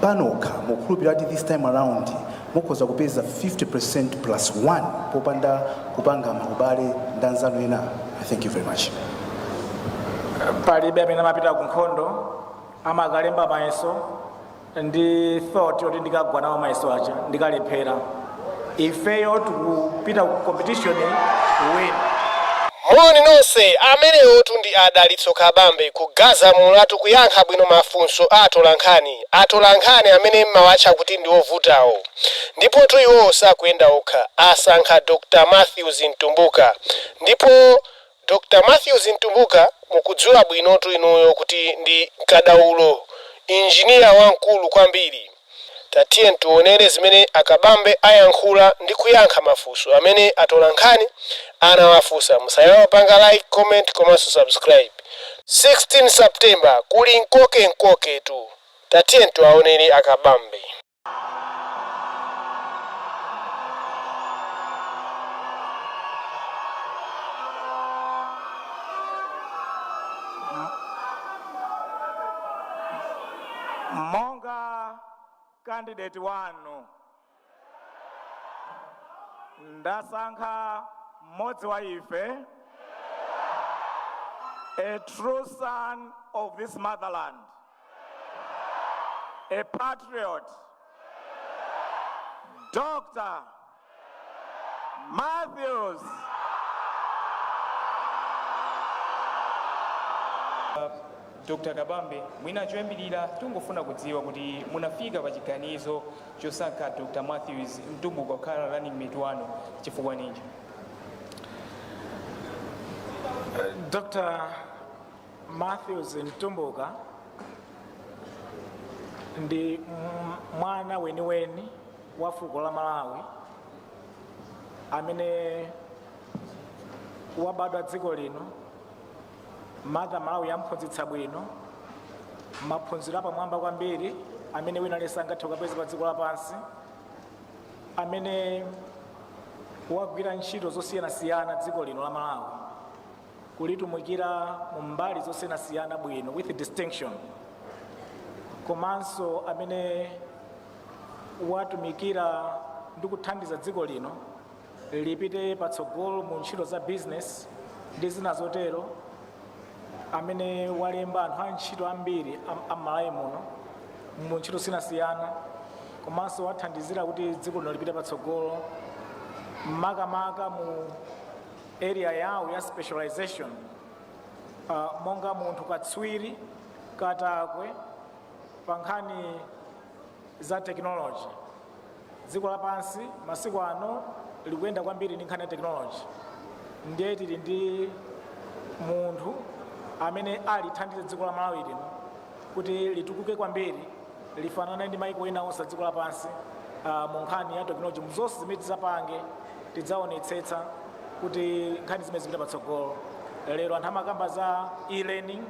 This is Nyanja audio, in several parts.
panokha mukhulupirira kuti this time around mukhoza kupeza 50% plus 1 popanda kupanga maubale ndi anzanu ena thank you very much palibe amene amapita ku nkhondo amakalemba mayeso ndi thought yoti ndikagwa nawo mayeso aja ndikalephera ifeyo tikupita ku competition to win. Moni nonse, amenewotu ndi a Dalitso Kabambe kugaza mulatu kuyankha bwino mafunso a atolankhani, atolankhani amene mmawatcha kuti ndi ovutawo. Ndipotu iwowo sakuyenda okha, asankha Dr. Mathews Mtumbuka ndipo. Dr Mathews Mtumbuka mukudziwa bwinotu inuyo kuti ndi kadaulo, engineer wamkulu kwambiri. Tatiyeni tionere zimene a Kabambe ayankhula ndi kuyankha mafunso amene atolankhani anawafunsa. Musaiwale kupanga like, comment komanso subscribe. 16 September kuli nkoke nkoke tu. Tatiyeni tiwaonere a Kabambe. Monga kandideti wanu, ndasankha mmodzi wa ife, a true son of this motherland. A patriot, Dr. Matthews. dr kabambe mwina choyambirira tingofuna kudziwa kuti munafika pa chiganizo chosankha dr matthews mtumbuka kukhala running mate wanu chifukwa ninji Dr. matthews mtumbuka ndi mwana weniweni wa fuko la malawi amene wabadwa dziko lino mother malawi wamphunzitsa bwino maphunziro apamwamba kwambiri amene wina aliyense angathe kukapeza pa dziko lapansi amene wagwira ntchito zosiyanasiyana dziko lino la malawi kulitumikira mu mbali zosiyanasiyana bwino with distinction komanso amene watumikira ndi kuthandiza dziko lino lipite patsogolo mu ntchito za business ndi zina zotero amene walemba anthu a ntchito ambiri am'malawi muno mu ntchito zosiyanasiyana komanso wathandizira kuti dziko lino lipite patsogolo makamaka mu area yawo ya specialization uh, monga munthu katswiri katakwe pa nkhani za technology dziko lapansi masiku ano likuyenda kwambiri ndi nkhani ya technology ndiye tili ndi munthu amene alithandize dziko la malawi lino kuti litukuke kwambiri lifanane ndi maiko ena onse dziko lapansi uh, mu nkhani ya tekinoloji muzonse zimene tidzapange tidzaonetsetsa kuti nkhani zimene zipita patsogolo lero anthu amakamba za e-learning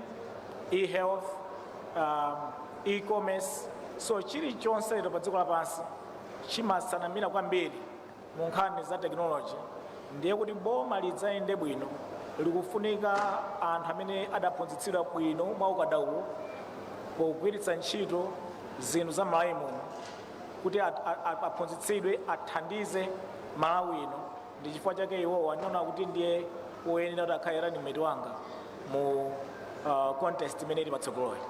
e-health um, e-commerce so chilichonse lero pa dziko lapansi chimatsanamira kwambiri mu nkhani za tekinoloji ndiye kuti boma lidzayende bwino likufunika anthu amene adaphunzitsidwa bwino mwa ukadaulo pogwiritsa ntchito zinthu za malawi muno kuti at- a- a- aphunzitsidwe athandize malawi ino ndi chifukwa chake iwowa ndinaona kuti ndiye woyenera kuti akhale ranimeti wanga mu ah, contest imene ili patsogoloyi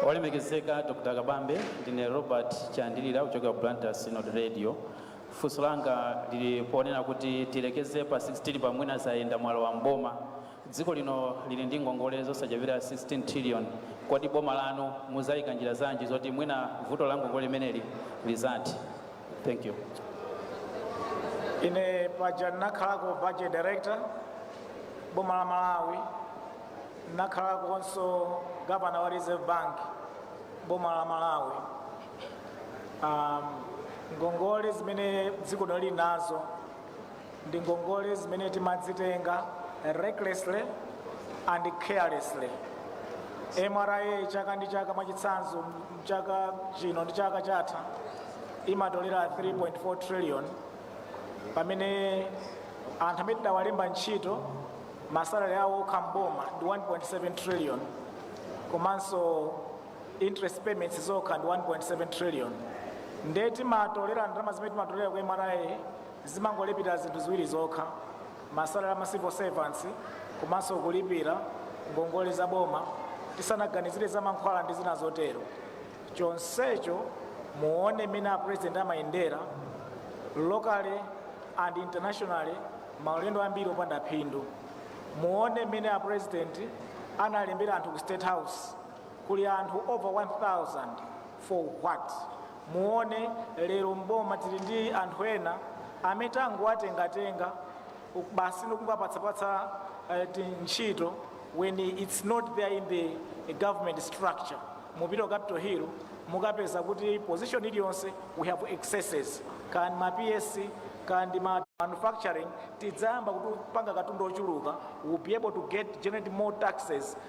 olemekezeka dr kabambe ndine robert chandilira kuchokera blantyre synod radio Funso langa lili ponena kuti tiyerekeze pa 16 pa mwina zayenda mwalowa m'boma. Dziko lino lili ndi ngongole zosachepera 16 trillion. Kodi boma lanu muzaika njira zanji zoti mwina vuto la ngongole limeneli lizathe? Thank you. Ine paja ndinakhalako budget director boma la Malawi, ndinakhalakonso gavana wa Reserve Bank boma la Malawi. um, ngongole zimene dziko lino lili nazo ndi ngongole zimene timazitenga recklessly and carelessly mra chaka ndi chaka mwachitsanzo chaka chino ndi chaka chatha imatolera 3.4 trillion pamene anthu amene tidawalemba ntchito masalari awo okha mboma ndi 1.7 trillion komanso interest payments zokha ndi 1.7 trillion nde timatolera ndalama zimene timatolera ku mra zimangolipira zinthu ziwiri zokha masalari ama civil servants komanso kulipira ngongole za boma tisanaganizire za mankhwala ndi zina zotero chonsecho muone mmene a president amayendera locally and internationally maulendo ambiri opanda phindu muone mmene a president analembera anthu ku state house kuli anthu over 1000 for what? muone lero mboma tili ndi anthu ena amene tangowatengatenga basi ndikungowapatsapatsa eh, tintchito when it's not there in the government structure mupita ku Capital Hill mukapeza kuti position iliyonse we have excesses kaya ndi ma PS kaya ndi ma manufacturing tidzayamba kupanga katundu ochuluka we'll be able to get generate more taxes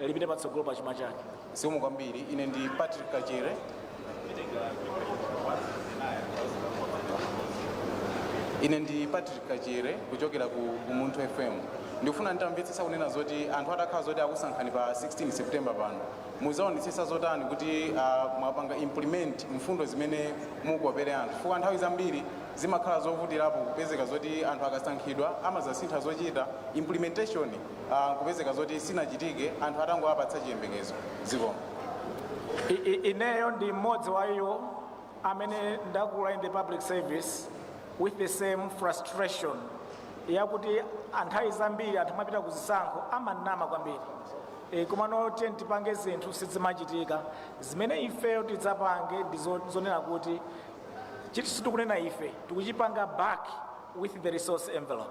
lipite patsogolo pa chuma chake. Zikomo kwambiri. Ine ndi Patrick Kachere. Ine ndi Patrick Kachere kuchokera ku Umunthu FM. Ndikufuna nditamvetsetsa kunena zoti anthu atakhala zoti akusankhani pa 16 September pano muzaonetsetsa zotani kuti uh, mwapanga implement mfundo zimene mukukopera anthu chifukwa nthawi zambiri zimakhala zovutirapo kupezeka zoti anthu akasankhidwa amazasintha zochita implementation ah, nkupezeka zoti sinachitike anthu atangowapatsa chiyembekezo zikomo I- i- ineyo ndi mmodzi wa iwo amene ndakula in the public service with the same frustration yakuti anthawi zambiri anthu amapita ku zisankho amanama kwambiri e, komano tiyeni tipange zinthu sizimachitika zimene ifeyo tidzapange ndi zo- zonena kuti chinthu tikunena ife tikuchipanga back with the resource envelope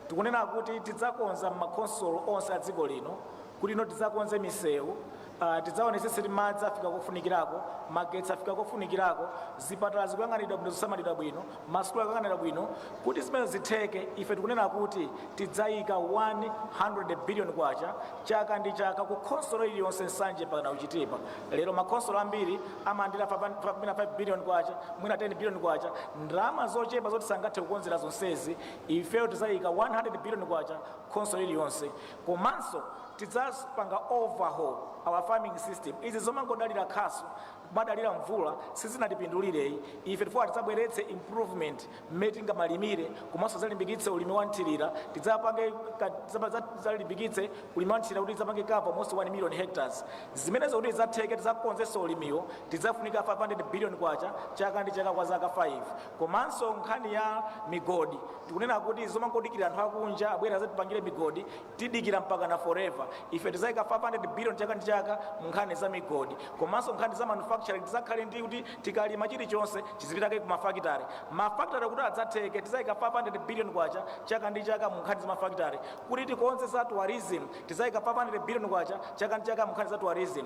Tikunena kuti tidzakonza m'makhonsolo onse a dziko lino kuti you know tidzakonze misewu, ah, tidzaonetsetse kuti madzi afika kofunikirako, magetsi afika kofunikirako, zipatala zikuyang'aniridwa bwino, zikusamalidwa bwino, masukulu akuyang'aniridwa bwino. Kuti zimenezo zitheke, ife tikunena kuti tidzayika 100 biliyoni kwacha chaka ndi chaka ku khonsolo iliyonse, Nsanje mpakana ku Chitipa. Lero makhonsolo ambiri amalandira fava- fa- mwina 5 biliyoni kwacha, mwina 10 biliyoni kwacha, ndalama zochepa zoti sangathe kukonzera zonsezi. ifeyo tizaika 100 billion kwacha khonsolo iliyonse komanso tidzapanga overhaul our farming system izi zomangodalira khasu kumadalira mvula sizinatipindulireyi ife tifuna tidzabweretse improvement mmene tingamalimire komanso tidzalimbikitse ulimi wa mthirira tidzapange ka- tidzapa- za- tidzalimbikitse ulimi wa mthirira kuti tidzapange cover almost 1 million hectares zimenezo kuti tidzatheke tidzakonzenso ulimiwo tidzafunika 500 billion kwacha chaka ndi chaka kwa zaka 5 komanso nkhani ya migodi tikunena kuti zomangodikira anthu akunja abwere azatipangire migodi tidikira mpakana forever ife tizayika 500 billion chaka ndi chaka mu nkhani za migodi komanso nkhani za manufacturing tizakhale ndi kuti tikalima chilichonse chizipitake ku mafakitare mafakitare kuti adzatheke tizayika 500 billion kwacha chaka ndi chaka mu nkhani za mafakitare kuti tikonze za tourism tizayika 500 billion kwacha chaka ndi chaka mu nkhani za tourism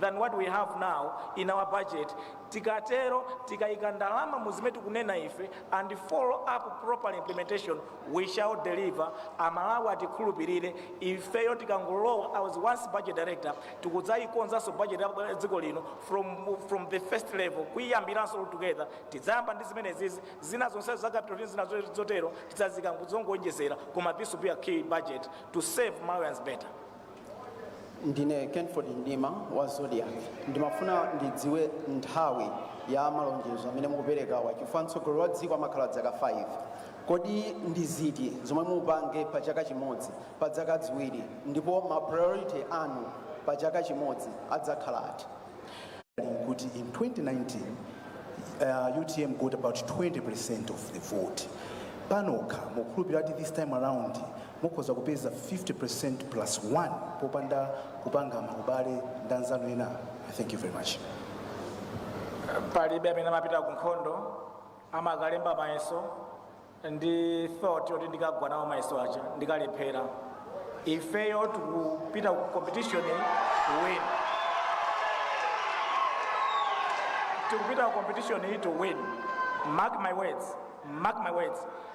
than what we have now in our budget tikatero tikayika ndalama mu zimene tikunena ife and follow up proper implementation we shall deliver amalawi atikhulupirire ifeyo tikangolowa i was once budget director tikudzayikonzanso budget ya dziko lino from the first level kuyiyambiranso all together tidzayamba ndi zimenezizi zina zonse za capital ndi zina zo- zotero tidzazika kuzongoonjezera koma this will be a key budget to serve malawians better ndine kenford mdima wa zodiak ndimafuna ndidziwe nthawi ya malonjezo amene mukuperekawa chifukwa mtsogoleri wa dziko amakhala dzaka 5 kodi ndi ziti zomwe mupange pa chaka chimodzi pa dzaka dziwiri ndipo ma priority anu pa chaka chimodzi adzakhala ati kuti in 2019 uh, utm got about 20 percent of the vote panokha mukhulupirira kuti this time around Mukhoza kupeza 50% plus one popanda kupanga ma ubale ndi anzanu ena. I thank you very much. palibe amene amapita ku nkhondo amakalemba mayeso ndi thought yoti ndikagwa nawo mayeso aja ndikalephera ifeyo tikupita ku competition to win tikupita ku competition to win mark my words mark my words